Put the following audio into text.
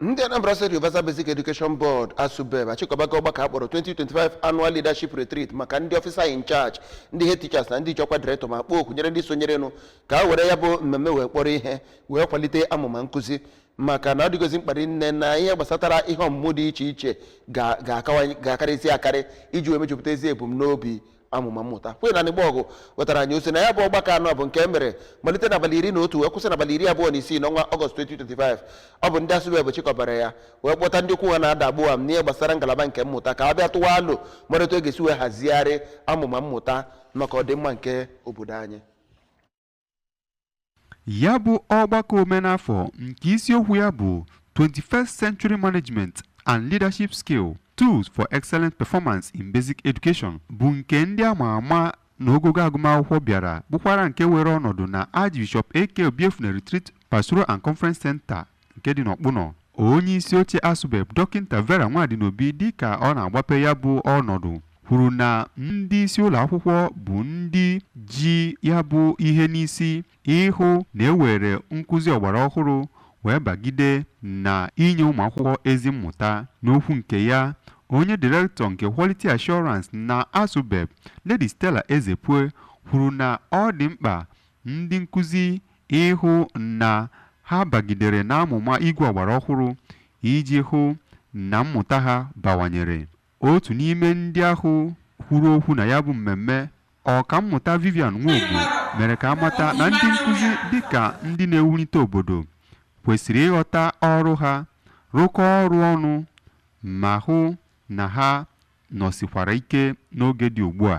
ndị anambra state universal basic education board asubeb achịkọbago ọgbakọ akpọrọ 2025 annual leadership retreat maka ndị officer in charge ndị head teachers na ndị nchekwa director ma kpọọ oku nyere ndị sonyerenụ ka ha were ya bụ mmemme wee kpọrọ ihe wee kwalite amụma nkụzi maka na ọ dịgozi mkpa rinne na ihe gbasatara ihe ọmụmụ dị iche iche ga-akarịzi akarị iji wee mejupụta ezi ebumnobi amụma mmụta queen anigbogu wetara anyị ozi na ya bụ ọgbakọ nụ bụ nke e mere malite n'abalị iri na otu wee kwụsị n'abalị iri abụọ na isii n'ọnwa ọgọst 2025 ọ bụ ndị asubeb chịkọbara ya wee kpọta ndị okwu ha na-ada gbọam n'ihe gbasara ngalaba nke mmụta ka a bịa tụwa alo mara otu e ga-esi wee hazigharị amụma mmụta maka ọdịmma nke obodo anyị ya bụ ọgbakọ omenafọ nke isiokwu ya bụ 21st Century Management and Leadership Skill Tools for Excellent Performance in Basic Education bụ nke ndị ama ama na ogogo agụmakwụkwọ bịara bụkwara nke were ọnọdụ na Archbishop AK Obiefuna Retreat Pastoral and Conference Center nke dị n'Ọkpụnọ. Onye isi oche ASUBEB, Dọkịnta Vera Nwadinobi dịka ọ na-agbape ya bụ ọnọdụ kwuru na ndị isi ụlọ akwụkwọ bụ ndị ji ya bụ ihe n'isi ịhụ na e were nkụzi ọgbara ọhụrụ wee bagide na inye ụmụ akwụkwọ ezi mmụta. N'okwu nke ya, onye direktọ nke Quality Assurance na ASUBEB, Lady Stella Ezepue kwuru na ọ dị mkpa Ndị nkuzi ịhụ na ha bagidere n'amụma igwe ọgbara ọhụrụ iji hụ na mmụta ha bawanyere. Otu n'ime ndị ahụ kwuru okwu na ya bụ mmemme, Ọkammụta Vivian Nwogbo mere ka a mata na ndị nkuzi dịka ndị na-ewulite obodo kwesịrị ịghọta ọrụ ha, rụkọọ ọrụ ọnụ ma hụ na ha nọsikwara ike n'oge dị ugbu a.